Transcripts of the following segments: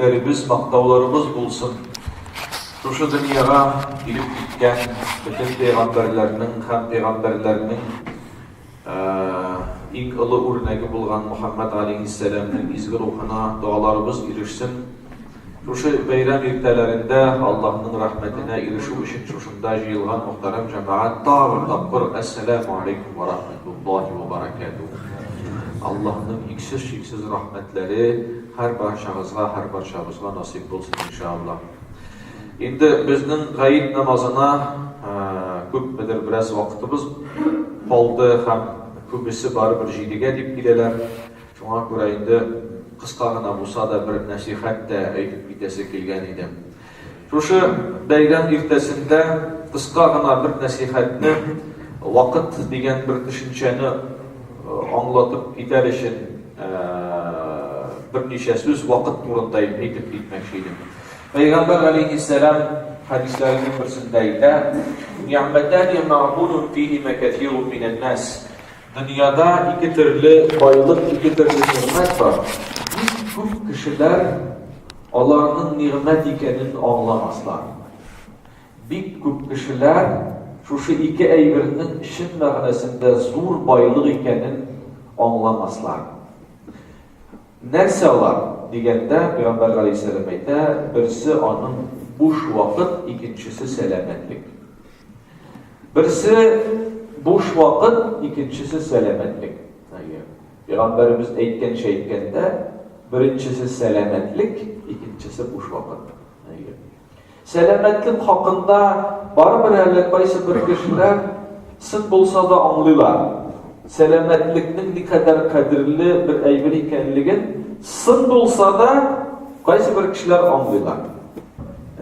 Илләребез мактауларыбыз булсын! Шушы дөньяга килеп киткән бөтен пәйгамбәрләрнең һәм пәйгамбәрләрнең иң олы үрнәге булган Мөхәммәд галәйһиссәламнең изге рухына догаларыбыз ирешсен! Шушы бәйрәм иртәләрендә Аллаһның рәхмәтенә ирешү өчен шушында җыелган мөхтәрәм җәмәгать тагын тапкыр Әссәламү алейкүм вә рәхмәтуллаһи вә бәрәкәтүһү! Аллаһның иксез-чиксез рәхмәтләре һәрбарчагызга, һәрбарчабызга насыйп булсын, иншааллаһ! Инде безнең гает намазына күпмедер бераз вакытыбыз калды һәм күбесе барыбер җидегә дип киләләр. Шуңа күрә инде кыска гына булса да бер нәсыйхәт тә әйтеп китәсе килгән иде. Шушы бәйрәм иртәсендә кыска гына бер нәсыйхәтне, вакыт дигән бер төшенчәне аңлатып китәр өчен берничә сүз вакыт турында әйтеп китмәкче идем. Пәйгамбәр галәйһиссәлам хәдисләренең берсендә әйтә, "Ни'мәтәни маъбудун фихима кәсирун минән-нас". Дөньяда ике төрле байлык, ике төрле нигъмәт бар. Бик күп кешеләр аларның нигъмәт икәнен аңламаслар. Бик күп кешеләр шушы ике әйбернең чын мәгънәсендә зур байлык икәнен аңламаслар. Нәрсә алар дигәндә, Пәйгамбәр галәйһиссәлам әйтә, берсе аның буш вакыт, икенчесе сәламәтлек. Берсе буш вакыт, икенчесе сәламәтлек. Пәйгамбәребез әйткәнчә әйткәндә, беренчесе сәламәтлек, икенчесе буш вакыт. Сәламәтлек хакында барыбер әле кайсы бер кешеләр сын булса да аңлыйлар. Сәламәтлекнең никадәр кадерле бер әйбер икәнлеген сын булса да кайсы бер кешеләр аңлыйлар.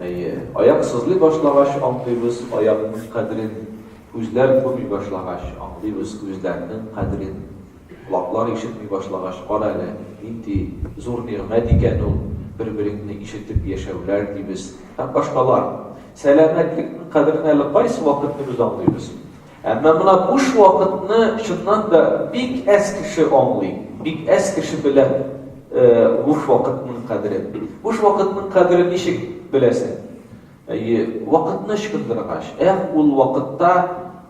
Әйе, аяк сызлый башлагач, аңлыйбыз аякның кадерен, күзләр күрми башлагач, аңлыйбыз күзләрнең кадерен, колаклар ишетми башлагач, карале, нинди зур нигъмәт икән ул бер-береңне ишетеп яшәүләр, дибез һәм башкалар. Сәламәтлекнең кадерен әле кайсы вакытны без аңлыйбыз? Әмма менә буш вакытны чыннан да бик әз кеше аңлый, бик әз кеше белә буш вакытның кадерен. Буш вакытның кадерен ничек беләсең? Әйе, вакытны ычкындыргач. Эх, ул вакытта,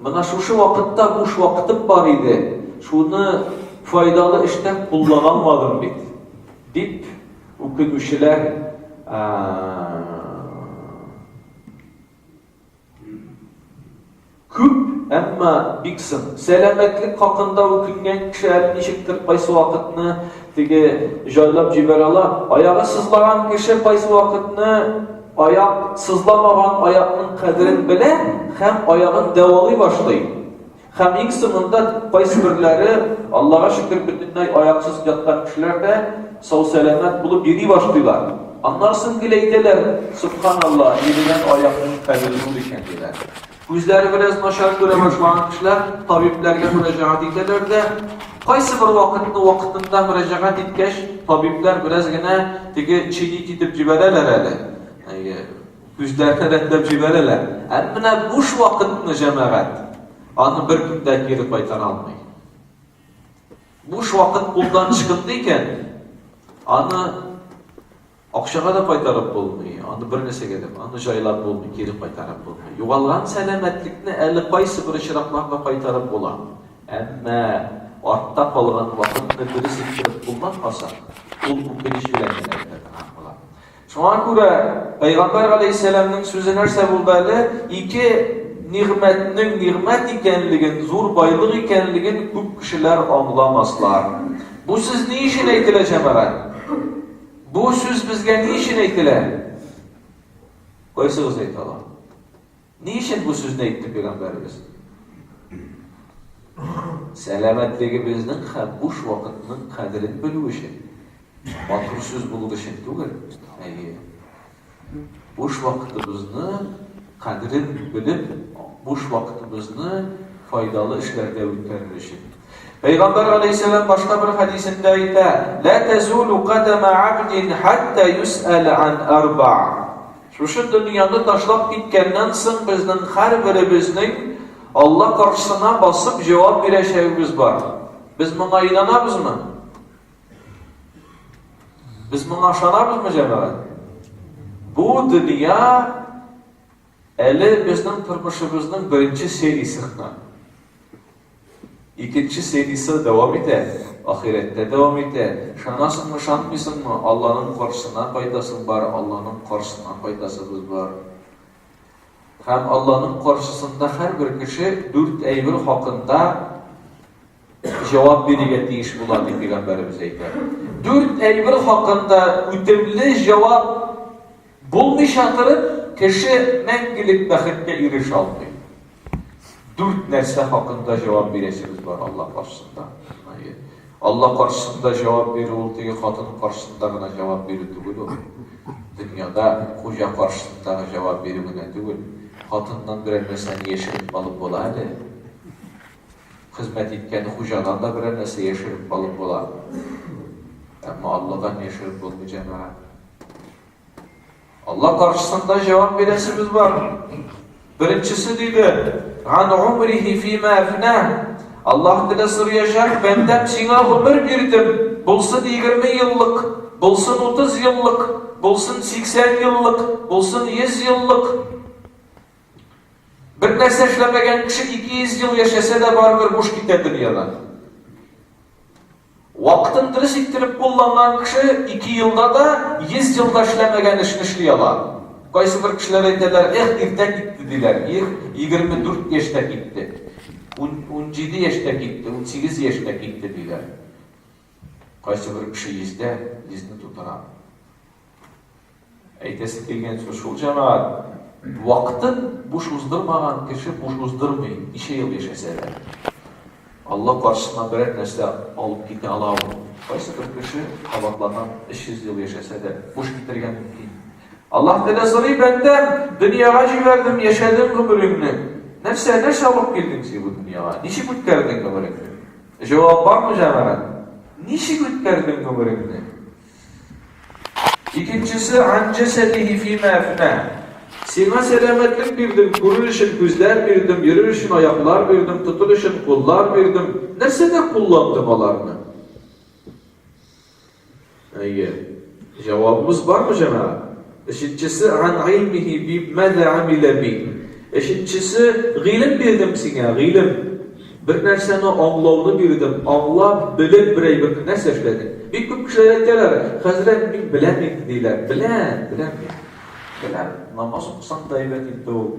менә шушы вакытта буш вакытым бар иде, шуны файдалы эштә куллана алмадым бит, дип үкенүчеләр Күп, әмма бик соң. Сәламәтлек хакында үкенгән кеше әле ничектер кайсы вакытны теге җайлап җибәрә ала. Аягы сызлаган кеше кайсы вакытны аяк сызламаган аякның кадерен белә һәм аягын дәвалый башлый. Һәм иң соңында кайсы берләре, Аллага шөкер, бөтенләй аяксыз яткан кешеләр дә сау-сәламәт булып йөри башлыйлар. Аннары соң гел әйтәләр, Субханалла, йөрегән аякның кадере зур икән, диләр. Күзләре бераз начар күрә башлаган кешеләр табибләргә мөрәҗәгать итәләр дә, кайсы бер вакытны вакытында мөрәҗәгать иткәч, табиблар бераз генә теге чинить итеп җибәрәләр әле. Үзләренә рәтләп җибәрәләр. Ә менә буш вакытны җәмәгать, аны беркем дә кире кайтара алмый. Буш вакыт кулдан ычкынды икән, аны акчага да кайтарып булмый, аны бер нәрсәгә дә, аны җайлап булмый, кире кайтарып булмый. Югалган сәламәтлекне әле кайсы бер очракларда кайтарып була. Әмма артта калган вакытны дөрес иттереп кулланмасак, ул үкенеч белән генә Шуңа күрә Пәйгамбәр галәйһиссәламнең сүзе нәрсә булды әле? Ике нигъмәтнең нигъмәт икәнлеген, зур байлык икәнлеген күп кешеләр аңламаслар. Бу сүз ни өчен әйтелә, җәмәгать? Бу сүз безгә ни өчен әйтелә? Кайсыгыз әйтә ала? Ни өчен бу сүзне әйтте пәйгамбәребез? Сәламәтлегебезнең һәм буш вакытның кадерен белү өчен. Матур сүз булу өчен түгел. Әйе. Буш вакытыбызны кадерен белеп, буш вакытыбызны файдалы эшләрдә үткәрер өчен. Пәйгамбәр алейһиссәлам башка бер хәдисендә әйтә: "Ла тазулу кадама абдин хатта юс'ал ан арба". Шушы дөньяны ташлап киткәннән соң безнең һәрберебезнең Алла каршысына басып җавап бирәчәгебез бар. Без моңа инанабызмы? Без моңа ышанабызмы, җәмәгать? Бу дөнья әле безнең тормышыбызның беренче сериясе гына. Икенче сериясе дәвам итә, ахирәттә дәвам итә. Ышанасыңмы, ышанмыйсыңмы, Алланың каршысына кайтасың бар, Алланың каршысына кайтасыбыз бар. Һәм Алланың каршысында һәрбер кеше дүрт әйбер хакында җавап бирергә тиеш була, дип пәйгамбәребез әйтә. Дүрт әйбер хакында үтемле җавап Булмыйча торып, кеше мәңгелек бәхеткә ирешә алмый. Дүрт нәрсә хакында җавап бирәсебез бар Алла каршысында. Алла каршысында җавап бирү ул теге хатын каршысында гына җавап бирү түгел ул. Дөньяда хуҗа каршысында җавап бирү генә түгел. Хатыннан берәр нәрсәне яшереп алып була әле. Хезмәт иткән хуҗадан да берәр нәрсә яшереп алып була. Әмма Алладан яшереп булмый җәмәгать. Алла каршысында җавап бирәсебез бар. Беренчесе диде, "Ан умрихи фима афна". Аллаһ тәгалә сорыячак, "Бәндәм, сиңа гомер бирдем, булсын 20 еллык, булсын 30 еллык, булсын 80 еллык, булсын 100 еллык". Бер нәрсә эшләмәгән кеше 200 ел яшәсә дә барыбер буш китә дөньядан. Вакытын дөрес иттереп кулланган кеше ике елда да йөз елда эшләмәгән эшне эшли ала. Кайсыбер кешеләр әйтәләр, Эх, иртә китте, диләр. Их, егерме дүрт яшьтә китте. Ун, унҗиде яшьтә китте, унсигез яшьтә китте, диләр. Кайсыбер кеше йөздә йөзне тутыра. Әйтәсе килгән сүз шул, җәмәгать, вакытын буш уздырмаган кеше буш уздырмый, ничә ел яшәсә дә. Алла каршысына берәр нәрсә алып китә ала ул. Кайсы бер кеше кабатланып 300 ел яшәсә дә, буш китергә мөмкин. Аллаһ Тәгалә сорый бәндәм, дөньяга җибәрдем, яшәдем гомереңне. Нәрсә, нәрсә алып килдең син бу дөньяга? Ничек үткәрдең гомереңне? Җавап бармы, җәмәгать? Ничек үткәрдең гомереңне? Икенчесе, Ан җәсәдиһи фима әфнә. Сиңа сәламәтлек бирдем, күрер өчен күзләр бирдем, йөрер өчен аяклар бирдем, тотыр өчен куллар бирдем. Нәрсәдә кулландың аларны? Әйе. Җавабыбыз бармы, җәмәгать? Өченчесе, Ган гыйльмихи би маза гамилә би. Өченчесе, Гыйлем бирдем сиңа, гыйлем. Бер нәрсәне аңлауны бирдем, аңлап, белеп бер әйберне нәрсә эшләдең? Бик күп кешеләр әйтәләр, Хәзрәт, мин беләм инде, диләр. Беләм, беләм мин. Беләм, намаз укысаң да әйбәт инде ул.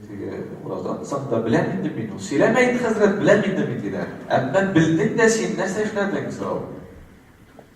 Теге, ураза тотсаң да беләм инде мин ул. Сөйләмә инде, хәзрәт, беләм инде мин, диләр. Әмма белдең дә син, нәрсә эшләдең? Сорау.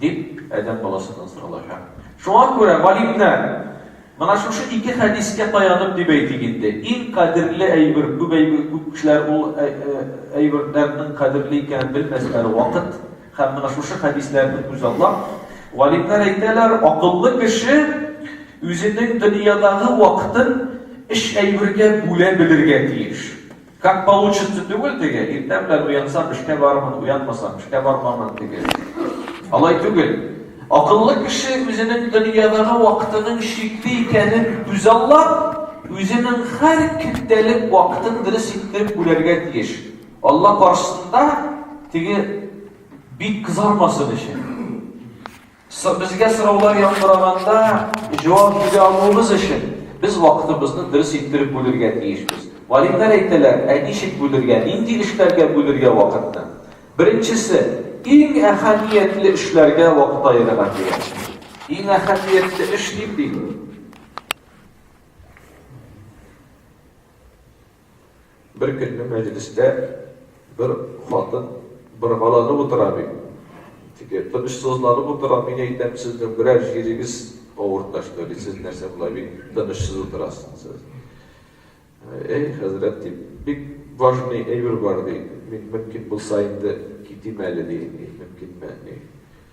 Дип, адәм баласыннан соралачак. Шуңа күрә, галимнәр, менә шушы ике хәдискә таянып дип әйтик инде, иң кадерле әйбер, күп әйбер, күп кешеләр ул әйберләрнең кадерле икәнен белмәсләр, вакыт һәм менә шушы хәдисләрне күзаллап, галимнәр әйтәләр, акыллы кеше үзенең дөньядагы вакытын өч әйбергә бүлә белергә тиеш. Как получится түгел теге, иртә белән уянсам эшкә барырмын, уянмасам эшкә бармамын теге. Алай түгел. Акыллы кеше үзенең дөньядагы вакытының чикле икәнен күзаллап, үзенең һәр көндәлек вакытын дөрес иттереп бүләргә тиеш. Алла каршысында теге бик кызармасын өчен. Безгә сораулар яңгыраганда җавап бирә алуыбыз өчен, без вакытыбызны дөрес иттереп бүлергә тиешбез. Галимнәр әйтәләр, ә ничек бүлергә, нинди эшләргә бүлергә вакытны? Беренчесе, иң әһәмиятле эшләргә вакыт аерырга кирәк. Иң әһәмиятле эш ниндидер? Бер көнне мәҗлестә бер хатын боргаланып утыра бит. Теге, тынычсызланып утыра, мин әйтәм, сезнең берәр җирегез авырта, что ли, сез нәрсә болай бик тынычсыз утырасыз? Әй, хәзрәт, ди, бик важный әйбер бар, ди, мин мөмкин булса инде китим әле, ди, мөмкинме, ди.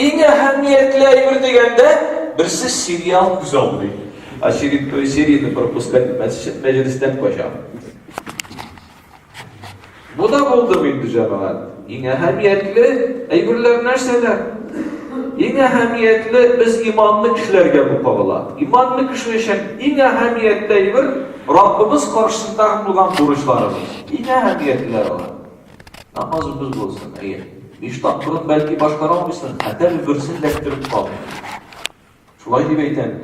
Иң әһәмиятле әйбер дигәндә, берсе сериал күз алмый. Очередной серияне пропускать мәсҗид мәҗлестән кача. Бу да булды инде җәмәгать. Иң әһәмиятле әйберләр нәрсәләр? Иң әһәмиятле без иманлы кешеләргә бу кагыла. Иманлы кеше өчен иң әһәмиятле әйбер Раббыбыз каршысында булган бурычларыбыз. Иң әһәмиятлеләр алар. Намазыбыз булсын, әйе. Биш тапкырын бәлки башкара алмыйсың, хәтәр берсен дә көттереп калмый. Шулай дип әйтәм.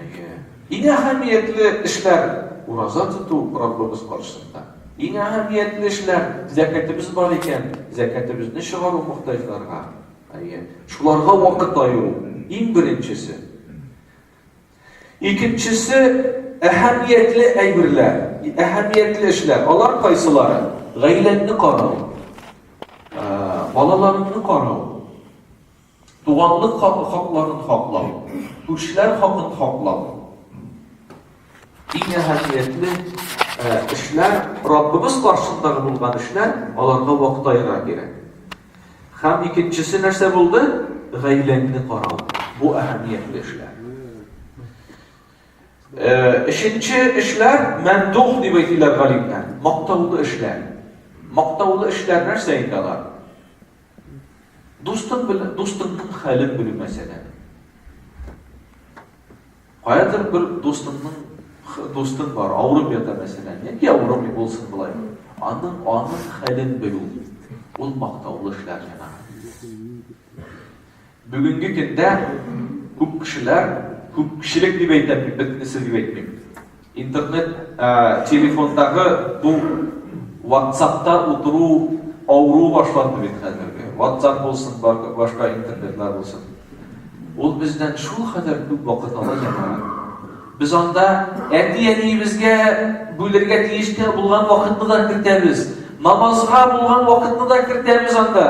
Әйе. Иң әһәмиятле эшләр ураза тоту Раббыбыз каршысында. Иң әһәмиятле эшләр зәкәтебез бар икән, зәкәтебезне чыгару мохтаҗларга. Әйе. Шуларга вакыт аеру иң беренчесе. Икенчесе, әһәмиятле әйберләр, әһәмиятле эшләр. Алар кайсылары? Гаиләңне карау, балаларыңны карау, туганлык хакларын хаклау, күршеләр хакын хаклау. Иң әһәмиятле эшләр, Раббыбыз каршындагы булган эшләр, аларга вакыт аера кирәк. Һәм икенчесе нәрсә булды? Гаиләңне карау. Бу әһәмиятле эшләр. Өченче эшләр мәмдух дип әйтелә галимнәр. Мактаулы эшләр. Мактаулы эшләр нәрсә инде алар? Дустың белән, дустыңның хәлен белү мәсәлән. Каядыр бер дустыңның х- дустың бар, авырып ята мәсәлән, яки авырмый булсын болай. Аның аның хәлен белү, ул мактаулы эшләр җәмәгать. Бүгенге көндә күп кешеләр, күпчелек дип әйтәм, мин бөтенесе дип әйтмим. Интернет телефондагы бу ватсапта утыру авыру башланды бит хәзерге. Ватсап булсын, башка интернетлар булсын. Ул бездән шул хәзер күп вакыт ала яна. Без анда әти-әниебезгә бүлергә тиеш тә булган вакытны да кертәбез. Намазга булган вакытны да кертәбез анда.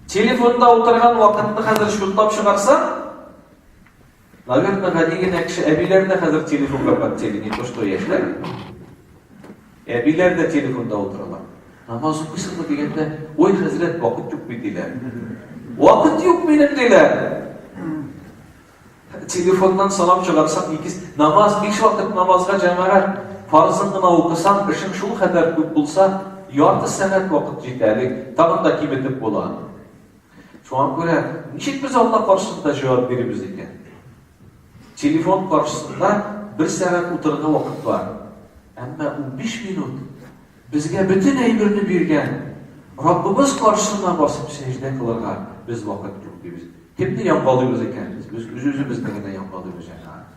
Телефонда утырган вакытны хәзер шунтап чыгарсаң, Наверное, гади генә кеше әбиләр дә хәзер телефонга подтели, не то что яшьләр. Әбиләр дә телефонда утыралар. Намаз укыйсыңмы дигәндә, ой, хәзрәт, вакыт юк бит диләр. Вакыт юк минем диләр. Телефоннан салам чыгарсак, икис намаз, биш вакыт намазга җәмәгать фарзын гына укысаң, эшең шул хәбәр күп булса, ярты сәгать вакыт җитә әле, тагын да киметеп була. Шуңа күрә ничек без Алла каршысында җавап бирибез икән? Телефон каршысында бер сәгать утырырга вакыт бар. Әмма 15 минут безгә бөтен әйберне биргән Раббыбыз каршысына басып сәҗдә кылырга без вакыт юк дибез. Кемне яңгалыйбыз икән без? Без үз-үзебезне генә яңгалыйбыз җәмәгать.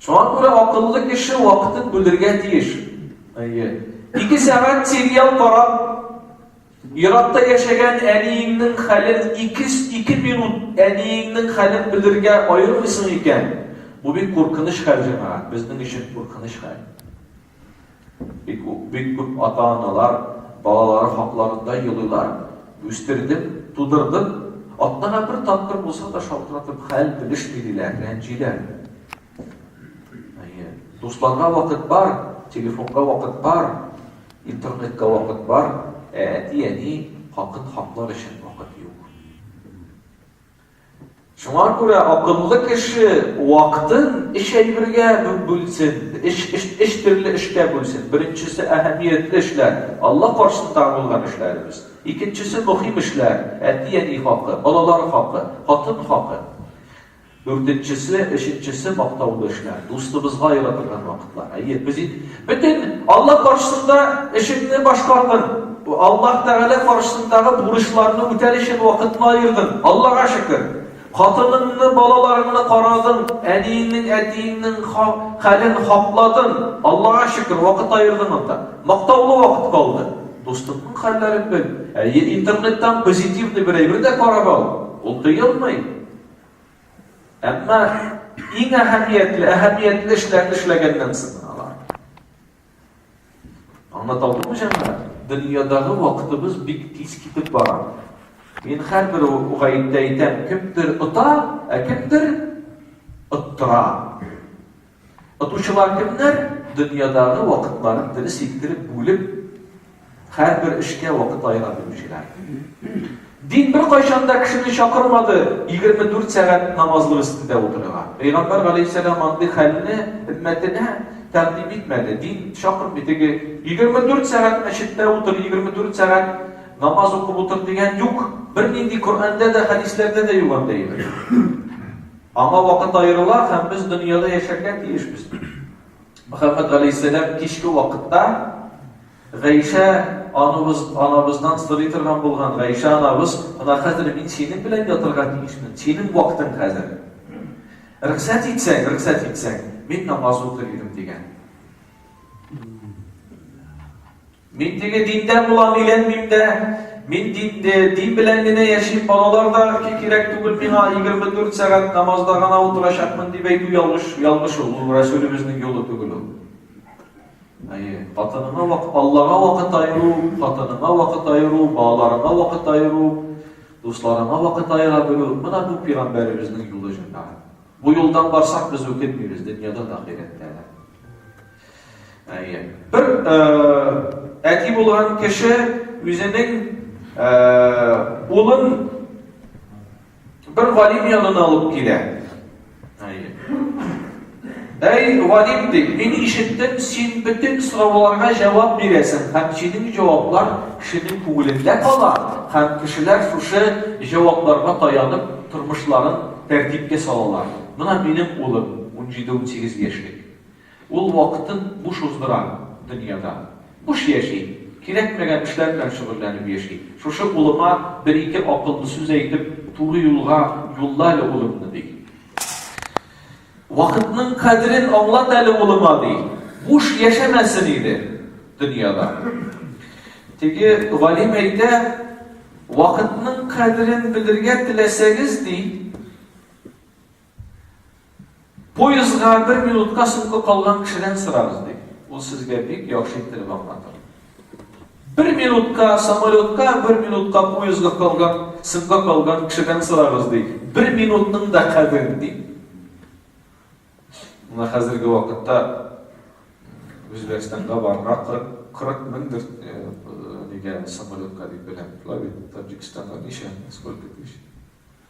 Шуңа күрә акыллы кеше вакытын бүлергә тиеш. Әйе. Ике сәгать сериал карап, еракта яшәгән әниеңнең хәлен 2-2 минут әниеңнең хәлен белергә аермыйсың икән. Бу бик куркыныч хәл, җәмәгать. Безнең өчен куркыныч хәл. Бик үк бик күп ата-аналар балалары хакларында елыйлар. Үстердем, тудырдым, атнага бер тапкыр булса да шалтыратып хәл белешми, диләр, рәнҗиләр. Әйе, дусларга вакыт бар, телефонга вакыт бар, интернетка вакыт бар, ә әти-әни хакын хаклар өчен вакыт юк. Шуңа күрә акыллы кеше вакытын өч әйбергә бүлсен, өч төрле эшкә бүлсен. Беренчесе, әһәмиятле эшләр, Алла каршысындагы булган эшләребез. Икенчесе, мөһим эшләр, әти-әни хакы, балалар хакы, хатын хакы. Дүртенчесе, өченчесе, мактаулы эшләр, дустыбызга аера торган вакытлар. Әйе, без Бөтен Алла каршысында эшеңне башкардың. Аллаһ Тәгалә каршысындагы бурычларны үтәр өчен вакытны аердың. Аллага шөкер. Хатыныңны, балаларыңны карадың, әниеңнең, әтиеңнең хәлен хапладың. Аллага шөкер, вакыт аердың анда. Мактаулы вакыт калды. Дустыңның хәлләрен бел. Әйе, интернеттан позитивный бер әйбер дә карап ал. Ул тыелмый. Әмма иң әһәмиятле, әһәмиятле эшләрне эшләгәннән соң алар. Аңлата алдымы җәмәгать? Дөньядагы вакытыбыз бик тиз китеп бара. Мин һәрбер гаептә әйтәм, кемдер ота, ә кемдер оттыра. Отучылар кемнәр? Дөньядагы вакытларын дөрес иттереп бүлеп, һәрбер эшкә вакыт аера белүчеләр. Дин беркайчан да кешене чакырмады 24 сәгать намазлык өстендә утырырга. Пәйгамбәр галәйһиссәлам андый хәлне өммәтенә тәкъдим итмәде. Дин чакырмый теге 24 сәгать мәчеттә утыр, 24 сәгать намаз укып утыр дигән юк. Бернинди Коръәндә дә, хәдисләрдә дә юк андый әйбер. Аңа вакыт аерыла һәм без дөньяда яшәргә тиешбез. Мөхәммәд галәйһиссәлам кичке вакытта Гайшә анабыз, анабыздан сорый торган булган Гайшә анабыз, менә хәзер мин синең белән ятырга тиешмен, синең вакытың хәзер. Рөхсәт итсәң, рөхсәт итсәң, мин намаз укыр идем дигән. Мин теге диндән булам, өйләнмим дә. Мин дин, дин белән генә яшим, балалар да кирәк түгел миңа, 24 сәгать намазда гына утырачакмын дип әйтү ялгыш, ялгыш ул, ул Рәсүлебезнең юлы түгел ул. Әйе, хатыныңа вакыт, Аллага вакыт айыру, хатыныңа вакыт айыру, балаларыңа вакыт айыру, дусларыңа вакыт айыра белү, менә бу пигамбәребезнең юлы җәмәгать. Бу юлдан барсак, без үкенмибез дөньяда да ахирәттә дә. Әйе. Бер әти булган кеше үзенең улын бер галим янына алып килә. Әйе. Әй, галим дип, мин ишеттем, син бөтен сорауларга җавап бирәсең, һәм синең җаваплар кешенең күңелендә кала, һәм кешеләр шушы җавапларга таянып тормышларын тәртипкә салалар. Менә минем улым, 17-18 яшьлек. Ул вакытын буш уздыра, дөньяда. Буш яши, кирәкмәгән эшләр белән шөгыльләнеп яши. Шушы улыма бер-ике акыллы сүз әйтеп, туры юлга юлла әле улымны, ди. Вакытның кадерен аңлат әле улыма, ди. Буш яшәмәсен иде дөньяда. Теге галим әйтә, вакытның кадерен белергә теләсәгез, ди, Поездга бер минутка соңга калган кешедән сорагыз, ди. Ул сезгә бик яхшы иттереп аңлатыр. Бер минутка самолетка, бер минутка поездга калган, соңга калган кешедән сорагыз, ди. Бер минутның да кадерен, ди. Менә хәзерге вакытта Үзбәкстанга барырга 40 меңдер нигә самолетка дип беләм. Лави Таджикстанга ничә, сколько тысяч?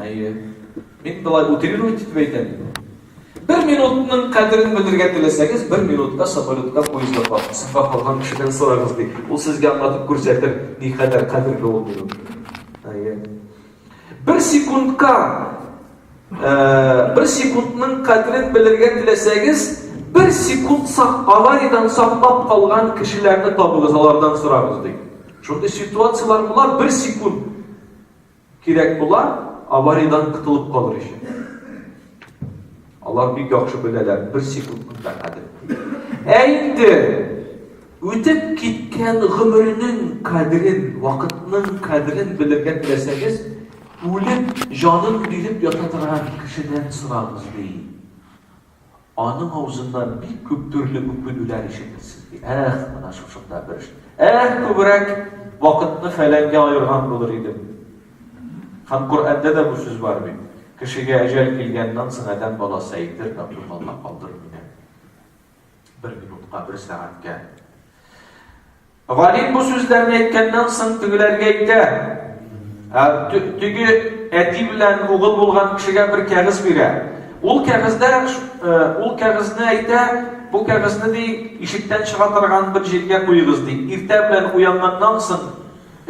Әйе. Мин болай утрировать итеп әйтәм. Бер минутның кадерен белергә теләсәгез, бер минутка самолетка поездда калып, сафа калган кешедән сорагыз ди. Ул сезгә аңлатып күрсәтер, ни кадәр кадерле ул минут. Әйе. Бер секундка бер секундның кадерен белергә теләсәгез, бер секунд сак авариядән саклап калган кешеләрне табыгыз, алардан сорагыз ди. Шундый ситуацияләр була, бер секунд Кирәк була, авариядән котылып калыр өчен. Алар бик яхшы беләләр, бер секундның да кадерен беләләр. Ә инде үтеп киткән гомернең кадерен, вакытның кадерен белергә теләсәгез, үлеп, җанын биреп ята торган кешедән сорагыз, ди. Аның авызыннан бик күп төрле үкенүләр ишетерсез, ди. Эх, менә шушында бер эш. Эх, күбрәк вакытны фәләнгә аерган булыр идем. Һәм Коръәндә дә бу сүз бар бит. Кешегә әҗәл килгәннән соң Адәм баласы әйтер, Раббем, Алла, калдыр мине бер минутка, бер сәгатькә. Галим бу сүзләрне әйткәннән соң тегеләргә әйтә. Теге әти белән угыл булган кешегә бер кәгазь бирә. Ул кәгазьдә ул кәгазьне әйтә, бу кәгазьне ди ишектән чыга торган бер җиргә куегыз ди. Иртә белән уянганнан соң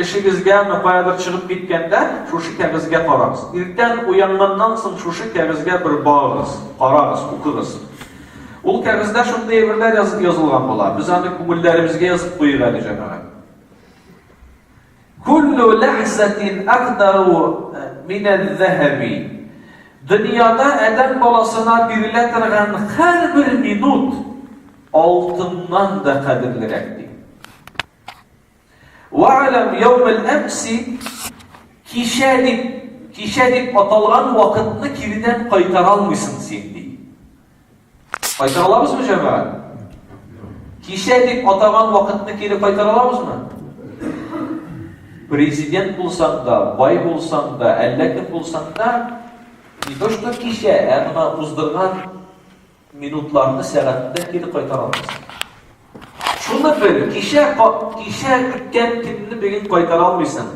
эшегезгә ме каядыр чыгып киткәндә шушы кәгазьгә карагыз. Иртән уянганнан соң шушы кәгазьгә бер багыгыз, карагыз, укыгыз. Ул кәгазьдә шундый әйберләр язып язылган була. Без аны күңелләребезгә язып куйыйк әле, җәмәгать. Күллү ләхзәтин әкдару э, минәл зәһәби. Дөньяда әдәм баласына бирелә торган һәрбер минут алтыннан да кадерлерәк ди. Вәаләм яумел әмси кичә дип, кичә дип аталган вакытны кирдән кайтара алмыйсың син ди. Кайтара аламызмы җәмәгать? Кичә дип атаган вакытны кире кайтара аламызмы? Президент булсаң да, бай булсаң да, әллә кем булсаң да, не то что кичә, ә гына уздырган Минутларны сәгатьтә кире кайтара алмыйсың. Шуны бел, кичә кичә үткән көнне бүген кайтара алмыйсың.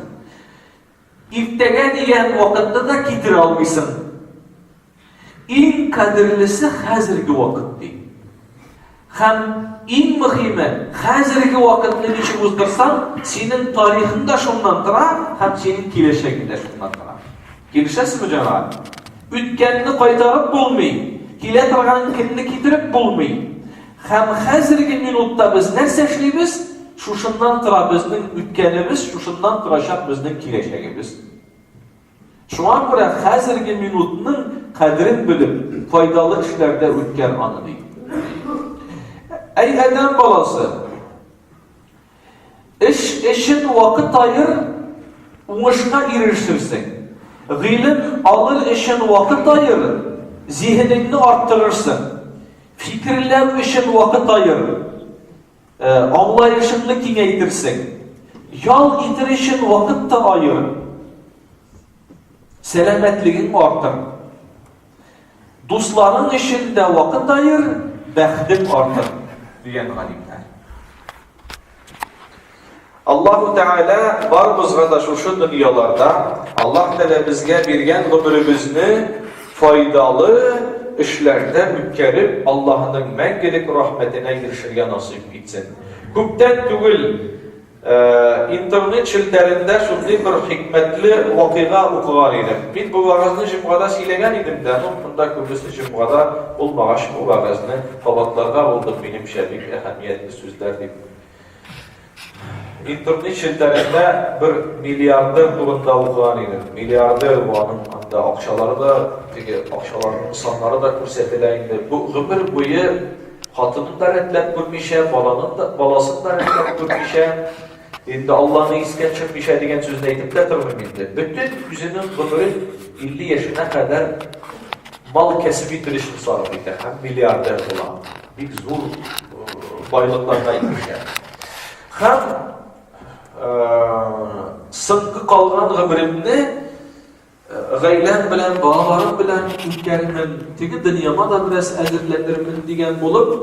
Иртәгә дигән вакытны да китерә алмыйсың. Иң кадерлесе хәзерге вакыт ди. Һәм иң мөхиме, хәзерге вакытны ничек уздырсаң, синең тарихың да шуннан тора, һәм синең киләчәгең дә шуннан тора. Килешәсезме, җәмәгать? Үткәнне кайтарып булмый, килә торган көнне китереп булмый. Һәм хәзерге минутта без нәрсә эшлибез? Шушыннан тора безнең үткәнебез, шушыннан торачак безнең киләчәгебез. Шуңа күрә хәзерге минутның кадерен белеп, файдалы эшләрдә үткәр аны, ди. Әй, адәм баласы! Эш өчен вакыт аер, уңышка ирешерсең. Гыйлем алыр өчен вакыт аер, зиһенеңне арттырырсың. Фикерләү өчен вакыт аер, э, аңлаешыңны киңәйтерсең. Ял итер өчен вакыт та аер, сәламәтлегең артыр. Дусларың өчен дә вакыт аер, бәхтең артыр, дигән галимнәр. Аллаһу Тәгалә барыбызга да шушы дөньяларда Аллаһ Тәгалә безгә биргән гомеребезне файдалы эшләрдә үткәреп, Аллаһның мәңгелек рәхмәтенә ирешергә насыйп итсен. Күптән түгел Интернет челтәрендә шундый бер хикмәтле вакыйга укыган идем. Мин бу вәгазьне җомгада сөйләгән идем дә, ну, монда күбесе җомгада булмагач, бу вәгазьне кабатларга булдым, минемчә, бик әһәмиятле сүзләр дип. Интернет челтәрендә бер миллиардер турында укыган идем. Миллиардер бу аның анда акчалары да, теге акчаларның саннары да күрсәтелә инде. Бу гомер буе Хатынын да рәтләп күрмичә, баланын да, баласын да рәтләп күрмичә, инде Алланы искә төшермичә дигән сүзне әйтеп тә тормыйм инде. Бөтен үзенең гомерен 50 яшенә кадәр мал кәсеп итер өчен сарыф итә һәм миллиардер була. Бик зур байлыкларга ирешә. Һәм соңгы калган гомеренне Гаиләм белән, балаларым белән үткәрермен, теге дөньяма да бераз әзерләнермен дигән булып,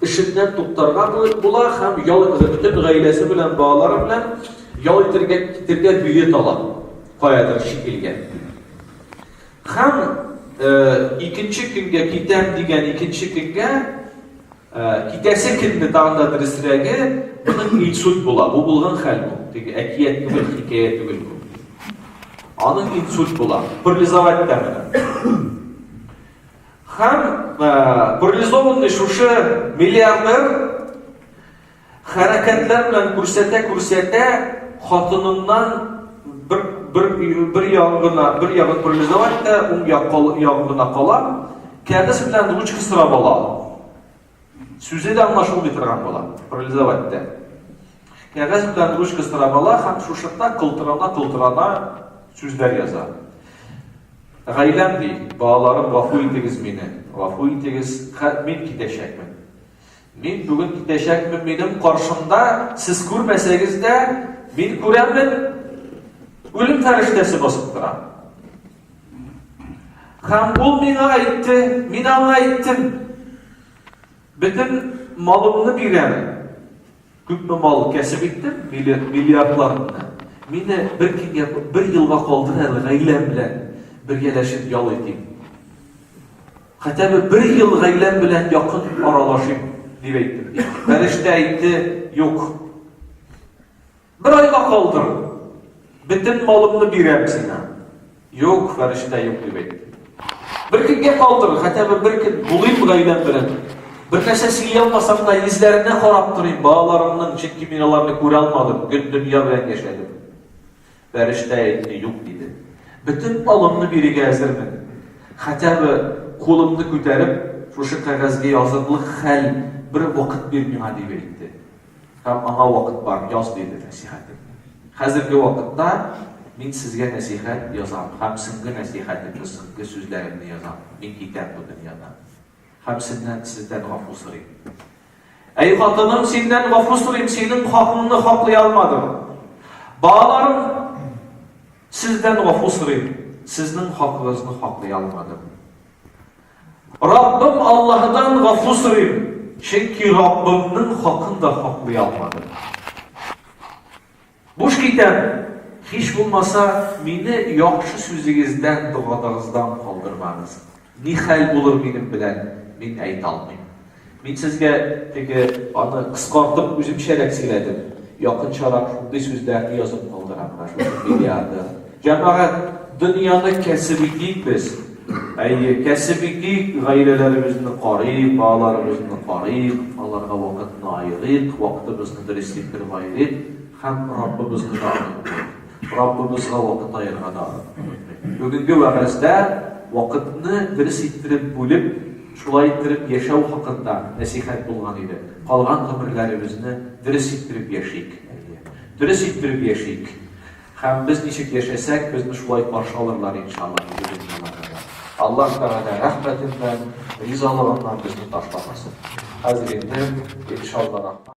эшеннән туктарга була һәм ял итә. Бөтен гаиләсе белән, балалары белән ял итәргә китергә билет ала. Каядыр чит илгә. Һәм икенче көнгә китәм дигән икенче көнгә Ә, китәсе көнне тагын да дөресрәге, моның инсульт була. Бу булган хәл бу. Теге әкият түгел, хикәя түгел бу. Аның инсульт була. Парализовать та менә. Һәм ә, парализованный шушы миллиардер Хәрәкәтләр белән күрсәтә-күрсәтә, хатыныннан бер, бер, бер ягын гына, бер ягын парализовать та, уң як, ягын гына кала, кәгазь белән ручка сорап ала. Сүзе дә аңлашылмый торган була, парализовать та. Кәгазь белән ручка сорап ала һәм шушында кылтырана-кылтырана сүзләр яза. Гаиләм ди, балаларым, гафу итегез мине, гафу итегез, мин китәчәкмен. Мин бүген китәчәкмен, минем каршымда, сез күрмәсәгез дә, мин күрәмен, үлем фәрештәсе басып тора. Һәм ул миңа әйтте, мин аңа әйттем, бөтен малымны бирәм, күпме мал кәсеп иттем, миллиардларны. Мине бер көнгә, бер елга калдыр әле, гаиләм белән бергәләшеп ял итим. Хәтәбе бер ел гаиләм белән якын аралашыйм, дип әйттем. Фәрештә әйтте, юк. Бер айга калдыр, бөтен малымны бирәм сиңа. Юк, фәрештә юк, дип әйтте. Бер көнгә калдыр, хәтәбе бер көн булыйм гаиләм белән. Бер нәрсә сөйли алмасам да, йөзләренә карап торыйм, балаларымның, чөнки мин аларны күрә алмадым, көн дөнья белән яшәдем. Фәрештә әйтте, Юк, диде. Бөтен алымны бирегә әзермен. Хәтә бы кулымны күтәреп, шушы кәгазьгә язырлык хәл бер вакыт бир миңа, дип әйтте. Һәм аңа вакыт бар, яз, диде нәсихәтеңне. Хәзерге вакытта мин сезгә нәсихәт язам һәм соңгы нәсихәтемне, соңгы сүзләремне язам, мин китәм бу дөньядан. Һәм сезнән, сездән гафу сорыйм. Әй хатыным, синнән гафу сорыйм, синең хакыңны хаклый алмадым. Балаларым, сездән гафу сорыйм, сезнең хакыгызны хаклый алмадым. Раббым Аллаһыдан гафу сорыйм, чөнки Раббымның хакын да хаклый алмадым. Буш китәм, һич булмаса, мине яхшы сүзегездән, догадагыздан калдырмагыз. Ни хәл булыр минем белән, мин әйтә алмыйм. Мин сезгә теге, аны кыскартып үземчәрәк сөйләдем, якынчарак шундый сүзләрне язып калдырам, Гражданин миллиардер. Җәмәгать, дөньяны кәсеп итик без. Әйе, кәсеп итик, гаиләләребезне карыйк, балаларыбызны карыйк, аларга вакытны аерыйк, вакытыбызны дөрес иттереп аерыйк һәм Раббыбызны да онытмыйк. Раббыбызга вакыт аерырга да онытмыйк. Бүгенге вәгазьдә вакытны дөрес иттереп бүлеп, шулай иттереп яшәү хакында нәсыйхәт булган иде. Калган гомерләребезне дөрес иттереп яшик, әйе, дөрес иттереп яшик. Һәм без ничек яшәсәк, безне шулай каршы алырлар, иншалла, диде дөньяларда. Аллаһ Тәгалә рәхмәтеннән, ризалыгыннан безне ташламасын. Хәзер инде, иншалла,